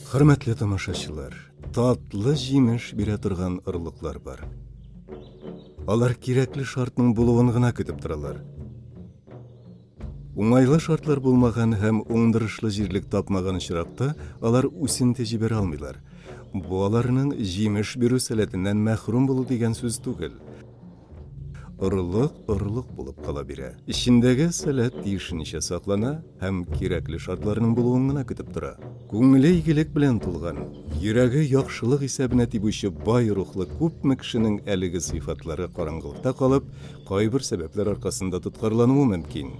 Хөрмәтле тамашачылар, татлы җимеш бирә торган орлыклар бар. Алар кирәкле шартның булуын гына көтеп торалар. Уңайлы шартлар булмаган һәм уңдырышлы җирлек тапмаган очракта алар үсенте җибәрә алмыйлар. Бу аларның җимеш бирү сәләтеннән мәхрүм булу дигән сүз түгел. Орлык орлык булып кала бирә. Эчендәге сәләт тиешенчә саклана һәм кирәкле шартларның булуын гына көтеп тора. Күңеле игелек белән тулган, йөрәге яхшылык исәбенә тибүче бай рухлы күпме кешенең әлеге сыйфатлары караңгылыкта калып, кайбер сәбәпләр аркасында тоткарлануы мөмкин.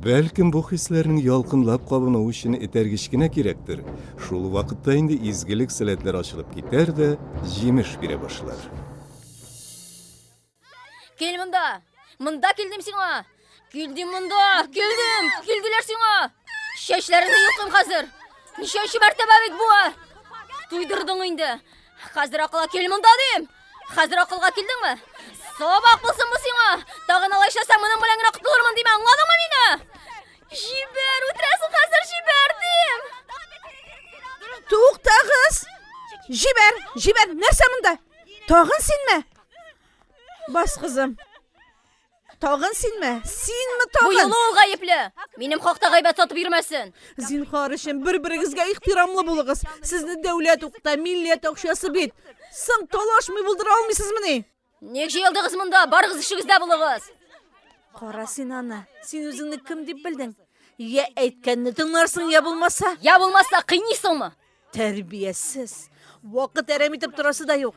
Бәлкем, бу хисләрнең ялкынлап кабынуы өчен этәргеч кенә кирәктер, шул вакытта инде изгелек-сәләтләр ачылып китәр дә, җимеш бирә башлар. Кел монда! Монда килдем сиңа! Килдем монда! Килдем! Килделәр сиңа! Чәчләреңне йолкым хәзер! Ничәнче мәртәбә бит буа! Туйдырдың инде! Хәзер акыла кил монда дим! Хәзер акылга килдеңме? Сабак булсын бу сиңа! Тагын алай эшләсәң, моның белән генә котылырмын диме, аңладыңмы мине? Җибәр, үтерәсең хәзер җибәр дим! Туктагыз! Җибәр, җибәр, нәрсә монда? Тагын синме? Бас кызым. Тагын синме? Синме Бу тагын? юлы ул гаепле. Минем хакта гайбәт сатып йөрмәсен. Зинхар өчен бер-берегезгә ихтирамлы булыгыз. Сезне дәүләт укыта, милләт акчасы бит. Соң талашмый булдыра алмыйсызмыни? Ник җыелдыгыз монда? Барыгыз эшегездә булыгыз. Кара син аны. Син үзеңне кем дип белдең? Я әйткәнне тыңларсың, я булмаса. Я булмаса кыйныйсыңмы? Тәрбиясез. Вакыт әрәм итеп торасы да юк.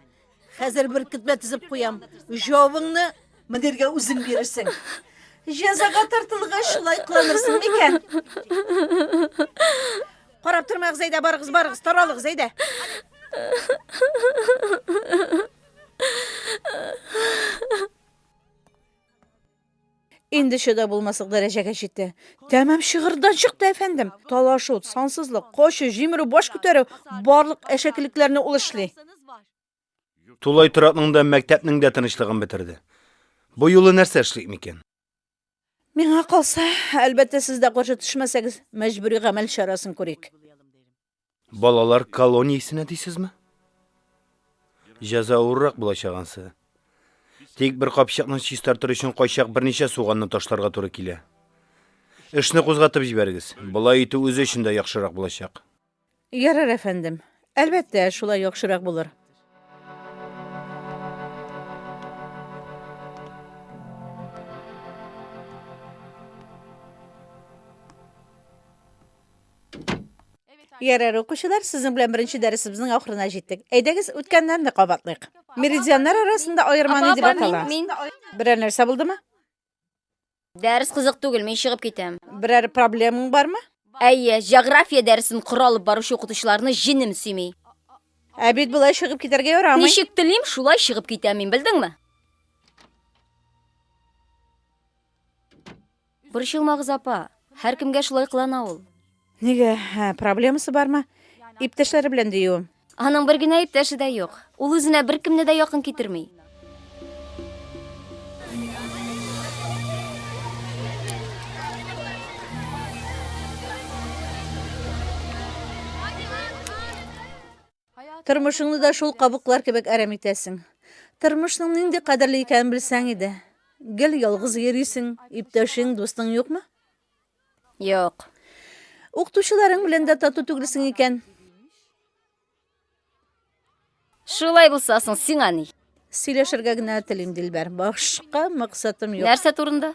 Хәзер бер китмә тезеп куям. Җавыңны мөдиргә үзең бирерсең. Җәзага тартылгач шулай кыланырсың микән? Карап тормагыз, әйдә, барыгыз, барыгыз, таралыгыз, әйдә. Инде чыда булмаслык дәрәҗәгә җитте. Тәмам чыгырдан чыкты, әфәндем. Талашу, сансызлык, качу, җимерү, баш күтәрү, барлык әшәкелекләрне ул эшли. Тулай торакның да, мәктәпнең дә тынычлыгын бетерде. Бу юлы нәрсә эшлик микән? Миңа калса, әлбәттә, сез дә каршы төшмәсәгез, мәҗбүри гамәл чарасын күрик. Балалар колониясенә дисезме? Җәза авыррак булачак ансы. Тик бер капчыкны чистартыр өчен кайчак берничә суганны ташларга туры килә. Эшне кузгатып җибәрегез. Болай итү үзе өчен дә яхшырак булачак. Ярар, әфәндем. Әлбәттә, шулай яхшырак булыр. Ярар, укучылар, сезнең белән беренче дәресебезнең ахырына җиттек. Әйдәгез, үткәннәрне кабатлыйк. Меридианнар арасында аерманы дип атала. Берәр нәрсә булдымы? Дәрес кызык түгел, мин чыгып китәм. Берәр проблемаң бармы? Әйе, җография дәресен коралып баручы укытучыларны җенем сөйми. Ә бит болай чыгып китәргә ярамый. Ничек телим, шулай чыгып китәм мин, белдеңме? Борчылмагыз, апа. Һәркемгә шулай кылана ул. Нигә, проблемасы бармы? Иптәшләре белән диюем. Аның бер генә иптәше дә юк. Ул үзенә беркемне дә якын китерми. Тормышыңны да шул кабыклар кебек әрәм итәсең. Тормышның нинди кадерле икәнен белсәң иде. Гел ялгыз йөрисең, иптәшең, дустың юкмы? Юк. Укытучыларың белән дә тату түгелсең икән. Шулай булса соң сиңа ни? Сөйләшергә генә телим, Дилбәр. Башка максатым юк. Нәрсә турында?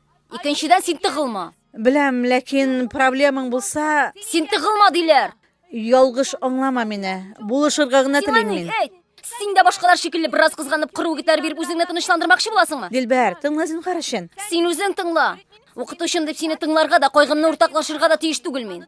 Икенчедән, син тыгылма. Беләм, ләкин проблемаң булса... Син тыгылма диләр! Ялгыш аңлама мине. Булышырга гына телим мин. Сиңа ни? Син дә башкалар шикелле бераз кызганып, кыру үгетләр биреп үзеңне тынычландырмакчы буласыңмы? Дилбәр, тыңла зинһар өчен. Син үзең тыңла. Укытучым дип сине тыңларга да, кайгымны уртаклашырга да тиеш түгел мин.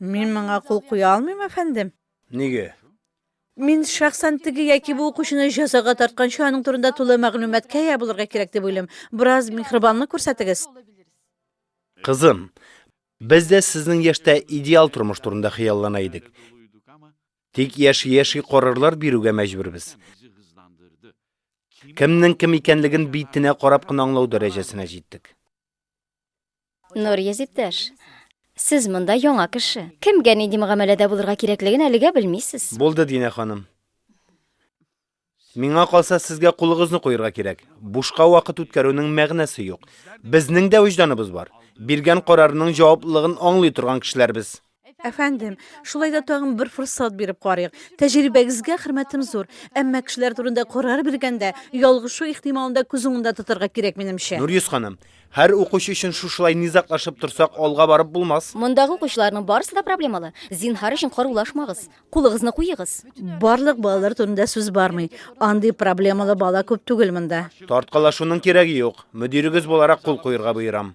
Мин моңа кул куя алмыйм, әфәндем. Нигә? Мин шәхсән теге яки бу укучыны җәзага тартканчы аның турында тулы мәгълүматкә ия булырга кирәк дип уйлыйм. Бераз михрибанлык күрсәтегез. Кызым, без дә сезнең яшьтә идеал тормыш турында хыяллана идек. Тик яши-яши карарлар бирүгә мәҗбүрбез. Кемнең кем икәнлеген битенә карап кына аңлау дәрәҗәсенә җиттек. Нурьез иптәш, сез монда яңа кеше. Кемгә нинди мөгамәләдә булырга кирәклеген әлегә белмисез. Булды, Динә ханым. Миңа калса, сезгә кулыгызны куерга кирәк. Бушка вакыт үткәрүнең мәгънәсе юк. Безнең дә вөҗданыбыз бар. Биргән карарының җаваплылыгын аңлый торган кешеләр без. Әфәндем, шулай да тагын бер форсат биреп карыйк. Тәҗрибәгезгә хөрмәтем зур, әмма кешеләр турында карар биргәндә, ялгышу ихтималында да күз уңында тотарга кирәк, минемчә. Нурйөз ханым, һәр укучы өчен шушылай низаклашып торсак, алга барып булмас. Мондагы укучыларның барысы да проблемалы. Зинһар өчен карулашмагыз. Кулыгызны куегыз. Барлык балалар турында сүз бармый. Андый проблемалы бала күп түгел монда. Тарткалашуның кирәге юк. Мөдирегез буларак кул куерга боерам.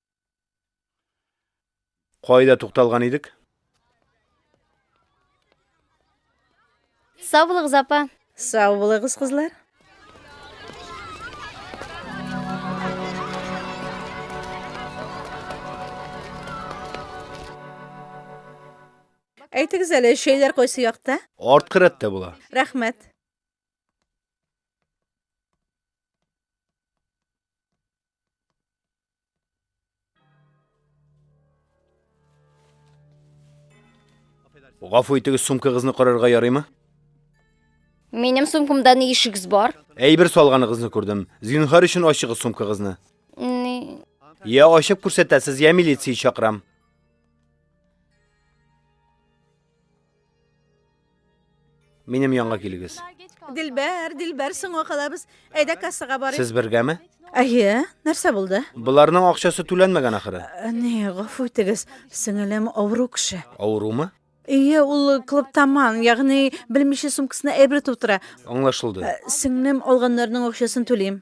Кайда тукталган идек? Сау булыгыз, апа. Сау булыгыз, кызлар. Әйтегез әле, шәйләр кайсы якта? Арткы рәттә була. Рәхмәт. Гафу итегез, сумкагызны карарга ярыймы? Минем сумкамда ни ишегез бар? Әйбер салганыгызны күрдем. Зинһар өчен ачыгыз сумкагызны. Ни? Я ачып күрсәтәсез, я милиция чакырам. Минем янга килегез. Дилбәр, Дилбәр, соңга калабыз. Әйдә кассага барыйк. Сез бергәме? Әйе, нәрсә булды? Боларның акчасы түләнмәгән ахыры. Ә, Не, гафу итегез, сеңелем авыру кеше. Авырумы? Әйе, ул клубтаман, ягъни белмичә сумкасына әйбер тутыра. Аңлашылды. Ә, Сеңлем алганнарның акчасын түлим.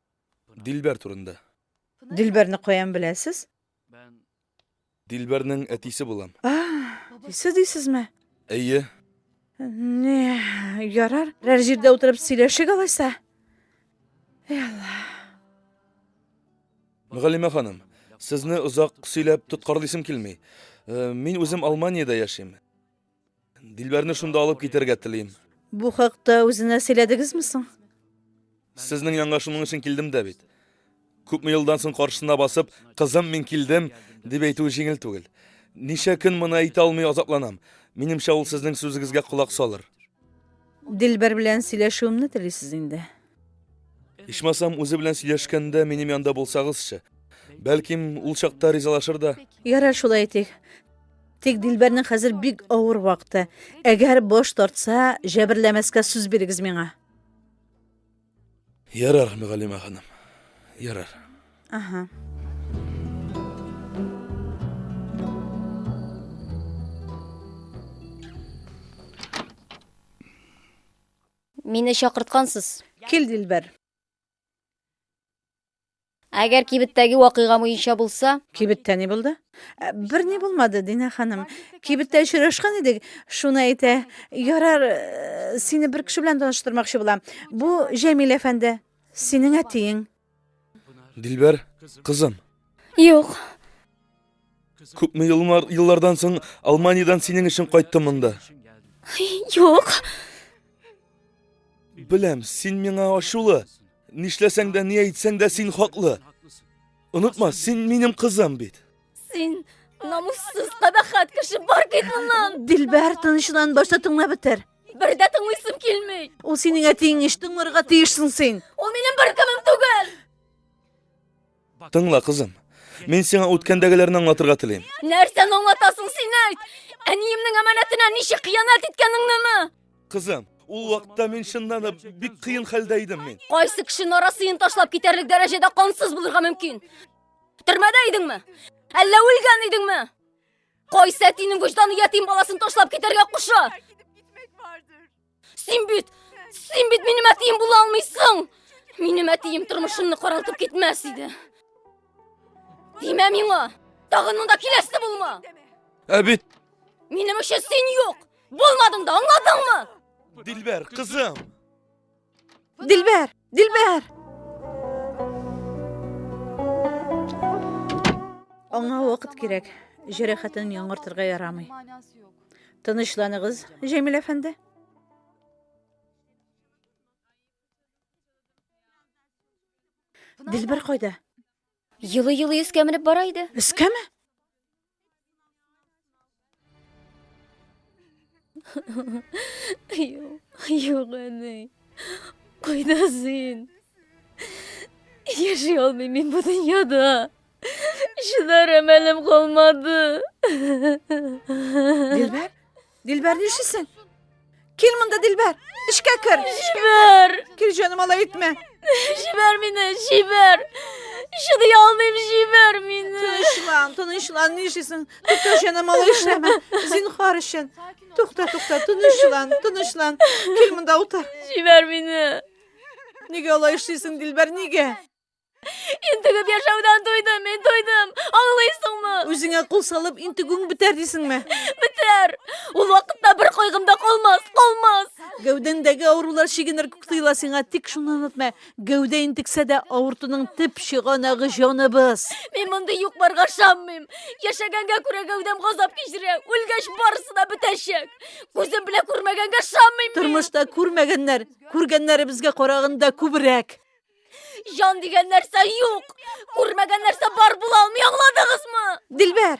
Дилбәр турында. Дилбәрне каян беләсез? Дилбәрнең әтисе булам. А, әтисе дисезме? Әйе. Не, ярар, берәр җирдә утырып сөйләшик алайса. Эй Алла. Мөгаллимә ханым, сезне озак сөйләп тоткарлыйсым килми. Э, мин үзем Алманиядә яшим. Дилбәрне шунда алып китәргә телим. Бу хакта үзенә сөйләдегезме соң? Сезнең янга шуның өчен килдем дә бит. Күпме елдан соң каршысына басып, кызым, мин килдем, дип әйтүе җиңел түгел. Ничә көн моны әйтә алмый азапланам. Минемчә, ул сезнең сүзегезгә колак салыр. Дилбәр белән сөйләшүемне телисез инде. Ичмасам, үзе белән сөйләшкәндә минем янда булсагызчы. Бәлким, ул чакта ризалашыр да. Ярар, шулай итик. Тик Дилбәрнең хәзер бик авыр вакыты. Әгәр баш тартса, җәберләмәскә сүз бирегез миңа. Ярар, мөгаллимә ханым. Ярар. Ага. Мине чакырткансыз. Кил, дилбәр. Әгәр кибеттәге вакыйга муенча булса? Кибеттә ни булды? Ә, бер ни булмады, Динә ханым. Кибеттә очрашкан идек, шуны әйтә. Ярар, э, сине бер кеше белән таныштырмакчы була. Бу Җәмил әфәнде, синең әтиең. Дилбәр, кызым. Юк. Күпме еллар, еллардан соң Алманиядән синең өчен кайттым монда. Юк. Беләм, син миңа ачулы. Нишләсәң дә, ни әйтсәң дә син хаклы. Онытма, син минем кызым бит. Син намуссыз кабахат кеше бар кит моннан. Дилбәр тынычлан башта тыңлап бетер. Бер дә тыңлыйсым килми. Ул синең әтиең ич тыңларга тиешсең син. Ул минем бер кемем түгел. Тыңла, кызым. Мин сиңа үткәндәгеләрне аңлатырга телим. Нәрсәне аңлатасың син әйт? Әниемнең әманәтенә ничек хыянәт иткәнеңнеме? Кызым, ул вакытта мин чыннан да бик кыен хәлдә идем мин. Кайсы кеше нарасыен ташлап китәрлек дәрәҗәдә кансыз булырга мөмкин? Төрмәдә идеңме? Әллә үлгән идеңме? Кайсы әтинең вөҗданы ятим баласын ташлап китәргә куша? Син бит, син бит минем әтием була алмыйсың. Минем әтием тормышымны каралтып китмәс иде. Димә миңа, тагын монда киләсе булма. Ә бит Минем өчен син юк. Булмадың да, аңладыңмы? Дилбәр, кызым. Дилбәр! Дилбәр! Аңа вакыт кирәк. Җәрәхәтен яңартырга ярамый. Тынычланыгыз, Җәмил әфәнде. Дилбәр кайда? Елый-елый өскә менеп бара иде. Өскәме? Юк, юк, әни. Кайда син? Яши алмыйм мин бу дөньяда. Чыдар әмәлем калмады. Дилбәр, Дилбәр, нишлисең? Кил монда, Дилбәр. Эшкә кер. Җибәр. Кил, җаным, алай итмә. Җибәр мине, җибәр. Чыдый алмыйм, җибәр мине. Тынычлан, тынычлан, нишлисең? Тукта, җаным, алай эшләмә. Зинхар өчен. Тукта, тукта, тынычлан, тынычлан. Кил монда утыр. Җибәр мине. Нигә алай эшлисең, Дилбәр, нигә? Интегеп яшәүдән туйдым, мин туйдым. Аңлыйсыңмы? Үзеңә кул салып, интегүң бетәр дисеңме? Бетәр. Ул вакытта бер кайгым да калмас, калмас. Гәүдәңдәге авырулар чигенер күк тоела сиңа, тик шуны онытма, гәүдә интексә дә авыртуның төп чыганагы җаныбыз. Мин мондый юк-барга ышанмыйм. Яшәгәнгә күрә гәүдәм газап кичерә, үлгәч барысы да бетәчәк. Күзем белән күрмәгәнгә ышанмыйм мин. Тормышта күрмәгәннәр, күргәннәребезгә караганда күбрәк. Җан дигән нәрсә юк. Күрмәгән нәрсә бар була алмый, аңладыгызмы? Дилбәр.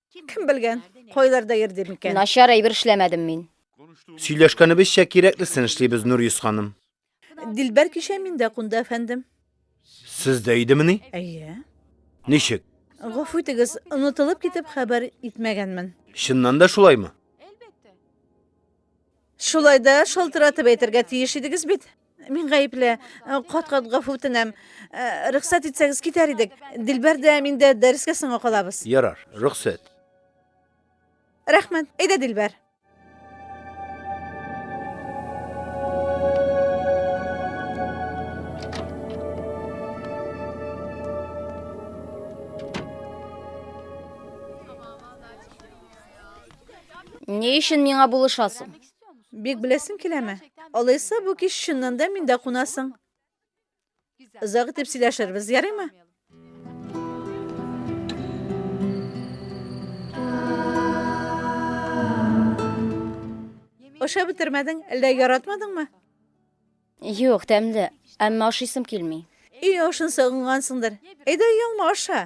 Кем белгән, кайларда йөрдер микән? Начар әйбер эшләмәдем мин. Сөйләшкәнебезчә кирәклесен эшлибез, Нурис ханым. Дилбәр кичә миндә кунды, әфәндем. Сездә идемени? Әйе. Ничек? Гафу итегез, онытылып китеп хәбәр итмәгәнмен. Чыннан да шулаймы? Шулай да шалтыратып әйтергә тиеш идегез бит. Мин гаепле. Кат-кат гафу үтенәм. Рөхсәт итсәгез, китәр идек. Дилбәр дә, мин дә дәрескә соңга калабыз. Ярар, рөхсәт. Рәхмәт. Әйдә, Дилбәр. Ни өчен миңа булышасың? Бик беләсең киләме? Алайса, бу кич чыннан да миндә кунасың. Озак итеп сөйләшербез, ярыймы? Ашап бетермәдең, әллә яратмадыңмы? Юк, тәмле, әмма ашыйсым килми. Өй ашын сагынгансыңдыр. Әйдә, ялма аша.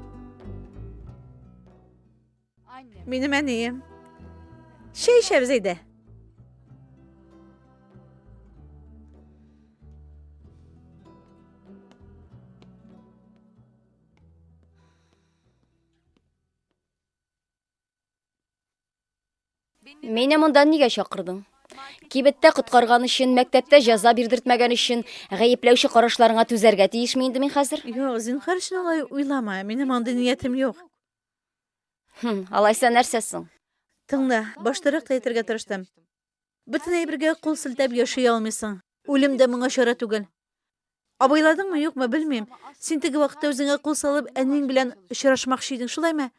Минем әнием. Чәй эчәбез әйдә. Мине монда нигә чакырдың? Кибеттә коткарган өчен, мәктәптә җәза бирдертмәгән өчен, гаепләүче карашларыңа түзәргә тиешме инде мин хәзер? Юк, зинһар өчен алай уйлама. Минем андый ниятем юк. Хм, алайса нәрсә соң? Тыңла, баштарак та әйтергә тырыштым. Бөтен әйбергә кул селтәп яши алмыйсың. Үлем дә моңа чара түгел. Абайладыңмы, юкмы, белмим. Син теге вакытта үзеңә кул салып, әниең белән очрашмакчы идең, шулаймы?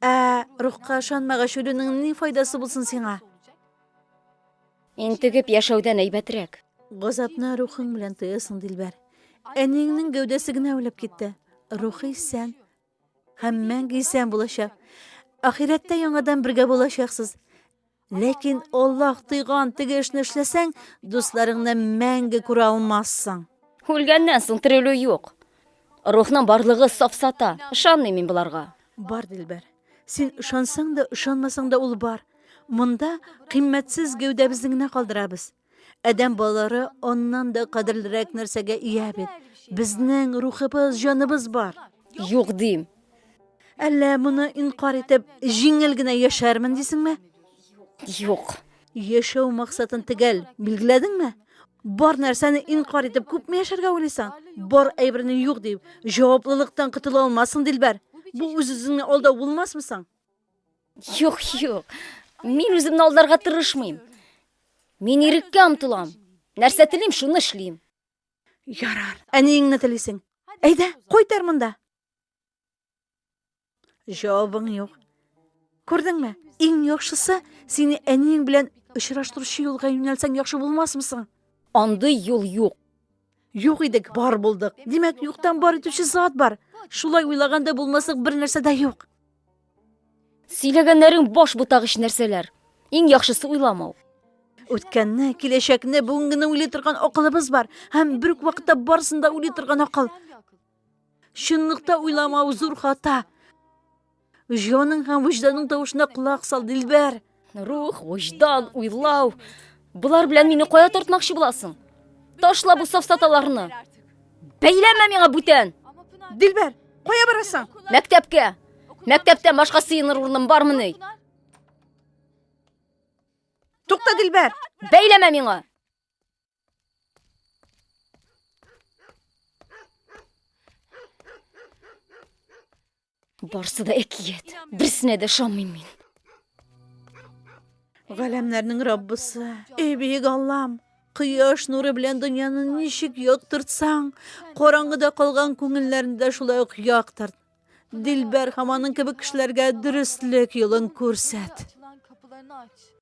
Ә, рухка ышанмагач, үлүнең ни файдасы булсын сиңа? Интегеп яшәүдән әйбәтрәк. Газапны рухың белән тоясың, Дилбәр. Әниеңнең гәүдәсе генә үлеп китте. Рухы исән, Һәм мәңге исән булачак. Ахирәттә яңадан бергә булачаксыз. Ләкин Аллаһ тыйган теге эшне эшләсәң, дусларыңны мәңге күрә алмассың. Үлгәннән соң терелү юк. Рухның барлыгы сафсата. Ышанмыйм мин боларга. Бар, Дилбәр. Син ышансаң да, ышанмасаң да ул бар. Монда кыйммәтсез гәүдәбезне генә калдырабыз. Адәм балалары аннан да кадерлерәк нәрсәгә ия бит. Безнең рухыбыз, җаныбыз бар. Юк дим. Әллә моны инкар итеп, җиңел генә яшәрмен дисеңме? Юк. Яшәү максатын төгәл билгеләдеңме? Бар нәрсәне инкар итеп күпме яшәргә уйлыйсың? Бар әйберне юк дип, җаваплылыктан котыла алмассың, Дилбәр. Бу үз-үзеңне алдау булмасмы соң? Юк, юк. Мин үземне алдарга тырышмыйм. Мин иреккә омтылам. Нәрсә телим, шуны эшлим. Ярар. Ә ниеңне телисең? Әйдә, кайтар монда. Җавабың юк. Күрдеңме? Иң яхшысы, сине әниең белән очраштыручы юлга юнәлсәң яхшы булмасмы соң? Андый юл юк. Юк идек, бар булдык. Димәк, юктан бар итүче зат бар. Шулай уйлаганда булмаслык бер нәрсә дә юк. Сөйләгәннәрең баш бутагыч нәрсәләр. Иң яхшысы уйламау. Үткәнне, киләчәкне, бүгенгене уйлый торган акылыбыз бар. Һәм бер үк вакытта барысын да уйлый торган акыл. Чынлыкта уйламау зур хата. Җаның һәм вөҗданың тавышына колак сал, Дилбәр. Рух, вөҗдан, уйлау. Болар белән мине кая тартмакчы буласың? Ташла бу сафсаталарны. Бәйләмә миңа бүтән. Дилбәр, кая барасың? Мәктәпкә. Мәктәптә башка сыеныр урыным бармыни? Тукта, Дилбәр. Бәйләмә миңа. Барсы да әкият. Берсенә дә ышанмыйм мин. Галәмнәрнең Раббысы, эй бөек Аллам, кояш нуры белән дөньяны ничек яктыртсаң, караңгыда калган күңелләрне дә шулай ук яктырт. Дилбәр һәм аның кебек кешеләргә дөреслек юлын күрсәт.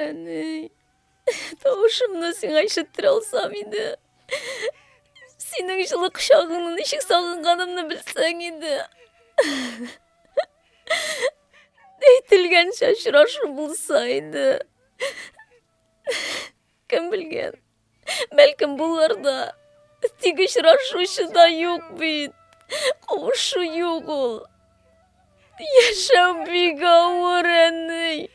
Әни, тавышымны сиңа ишеттер алсам иде. Синең җылы кочагыңны ничек сагынганымны белсәң иде. Әйтелгәнчә очрашу булса иде. Кем белгән, Бәлкем булыр да. Тик очрашучы да юк бит. Кавышу юк ул. Яшәү бик авыр, әни.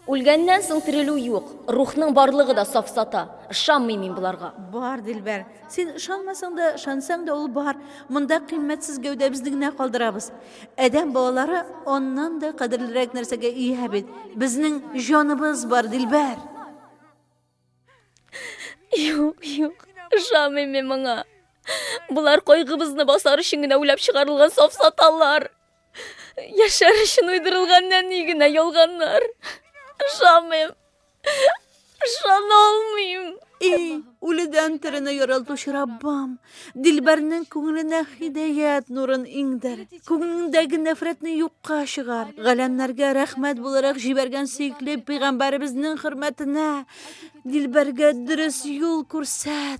Үлгәннән соң терелү юк. Рухның барлыгы да сафсата. Ышанмыйм мин боларга. Бар, Дилбәр. Син ышанмасаң да, ышансаң да ул бар. Монда кыйммәтсез гәүдәбезне генә калдырабыз. Адәм балалары аннан да кадерлерәк нәрсәгә ия бит. Безнең җаныбыз бар, Дилбәр. Юк, юк, ышамыйм мин моңа. Болар кайгыбызны басар өчен генә уйлап чыгарылган сафсаталар. Яшәр өчен уйдырылган нәни генә ялганнар. Ышамыйм. Ышана алмыйм. Эй, үледән терене яралтучы Раббам, Дилбәрнең күңеленә хидәят нурын иңдер. Күңелендәге нәфрәтне юкка чыгар. Галәмнәргә рәхмәт буларак җибәргән сөекле пәйгамбәребезнең хөрмәтенә Дилбәргә дөрес юл күрсәт.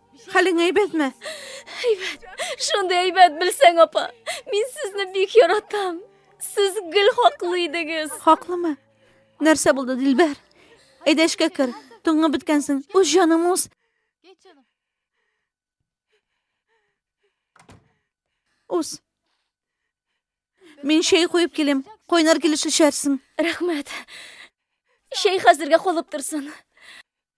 Хәлең әйбәтме? Әйбәт. Шундый әйбәт белсәң, апа. Мин сезне бик яратам. Сез гел хаклы идегез. Хаклымы? Нәрсә булды, Дилбәр? Әйдә эшкә кер. Туңып беткәнсең. Үз җаның үз. Үз. Мин чәй куеп килем. Кайнар килеш эчәрсең. Рәхмәт. Чәй хәзергә калып торсын.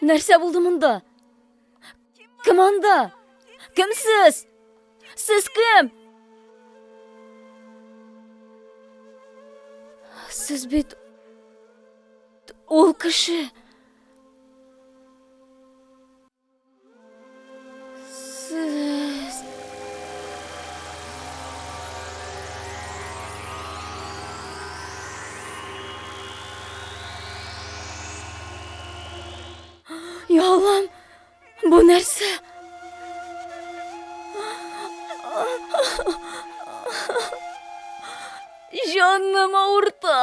Нәрсә булды монда? Кем анда? Кем сез? Сез кем? Сез бит ул кеше. Яллам, бу нәрсә? Җаным авырта.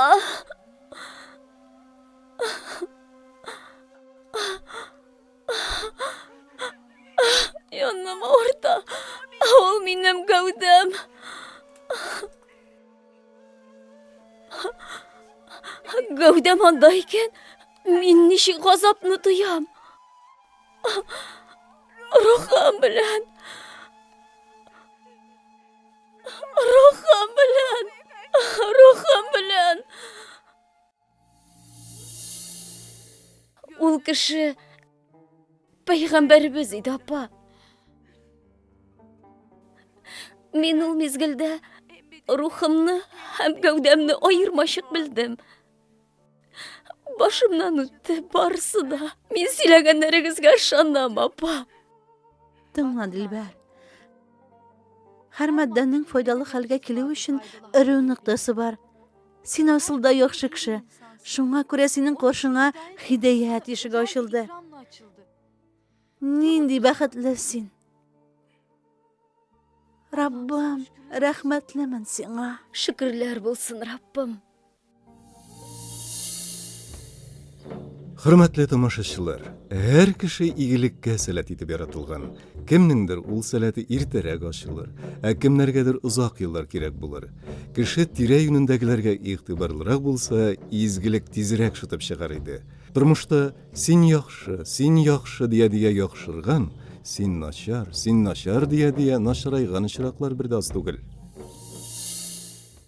Йонным авырта. Ул минем гәүдәм. Гәүдәм анда икән, мин ничек газапны тоям. Рухым белән. Рухым белән. Рухым белән. Ул кеше пәйгамбәребез иде, апа. Мин ул мизгелдә рухымны һәм гәүдәмне аермачык белдем. Башымнан үтте барысы да. Мин сөйләгәннәрегезгә ышанам, апа. Тыңла, Дилбәр. Һәр матдәнең файдалы хәлгә килү өчен эре ныктасы бар. Син асылда яхшы кеше. Шуңа күрә синең каршыңа хидәят ишеге ачылды. Нинди бәхетле син. Раббым, рәхмәтлемен сиңа. Шөкерләр булсын, Раббым. Хөрмәтле тамашачылар, һәр кеше игелеккә сәләт итеп яратылган. Кемнеңдер ул сәләте иртәрәк ачылыр, ә кемнәргәдер озак еллар кирәк булыр. Кеше тирә-юнендәгеләргә игътибарлырак булса, изгелек тизрәк шытып чыгар иде. Тормышта син яхшы, син яхшы дия-дия яхшырган, син начар, син начар дия-дия начарайган очраклар бер дә аз түгел.